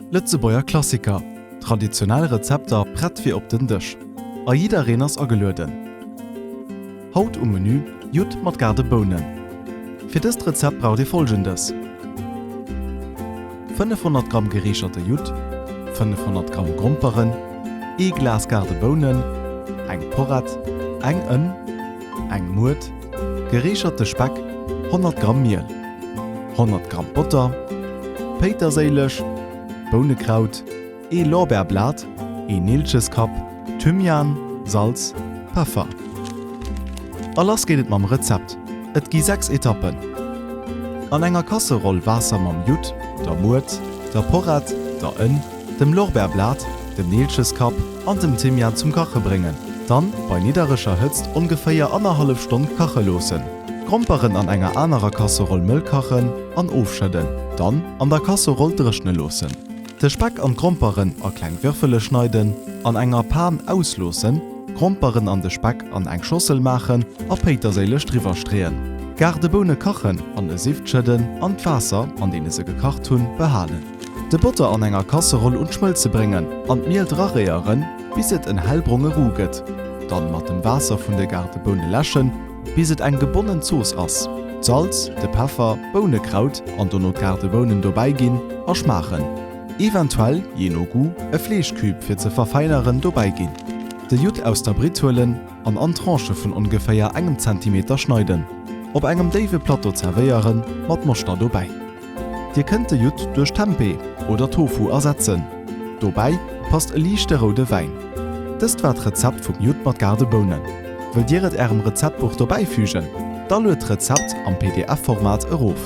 Lëtzebuerger Klassiker, traditionell Rezepter prett fir op den Dësch a jiddereen ass agelueden! Haut um Menü, Judd mat gaarde Bounen. Fir dëst Rezept braucht dir folgendes, 500 Gramm gereecherte Judd, 500 Gramm Gromperen, ee Glas gaarde Bounen, eng Porrett, eng Ënn, eng Muert gereecherte Speck, 100 Gramm Miel, 100 Gramm Botter, Péiterséileg, Bounekraut, ee Lorbeerblat, een Neelcheskapp, Thymian, Salz, Peffer. A lass geet et mam Rezept, et gi 6 Etappen. An enger Kasseroll Waasser mam Judd, der Muert, der Porrett, der Ënn, dem Lorbeerblat, dem Neelcheskapp an dem Thymian zum kache bréngen. Dann bei niddereger Hëtzt ongeféier annerhallef Stonn kache loossen. D'Gromperen an enger anerer Casserolle mëll kachen an ofschëdden. Dann an der Casserolle dréchne loossen. De Speck an d'Gromperen a kleng Würfele schneiden. An enger Pan ausloossen, d'Gromperen an de Speck an eng Schossel maachen a Péiterséilech driwwer streeën. Gaardeboune kachen, an e Sift schëdden an d'Waasser, an deene se gekacht hunn, behalen. De Botter an enger Kasseroll un d'Schmëlze bréngen an d'Miel draréieren, bis et en hellbronge Roux gëtt. Dann mat dem Waasser vun de garte Boune läschen, bis et eng gebonnen Zooss ass. D'Salz, de Peffer, Bounekraut an dono d'garte Bounen dobäi ginn a schmaachen. Eventuell, jee no Goût, e Fleeschcube fir ze verfeineren dobäi ginn. De Judd aus der Britt huelen an an Tranchë vun ongeféier engem Zentimeter schneiden. Op engem déiwe Plateau zerwéieren, mat Moschter dobäi. Dir kënnt de Judd duerch Tempeh oder Tofu ersetzen. Dobäi passt e liichte roude Wäin. Dëst war d'Rezept vum Judd mat Gardebounen. Wëllt Dir et Ärem Rezeptbuch dobäifügen? Da luet d'Rezept am PDF-Format erof.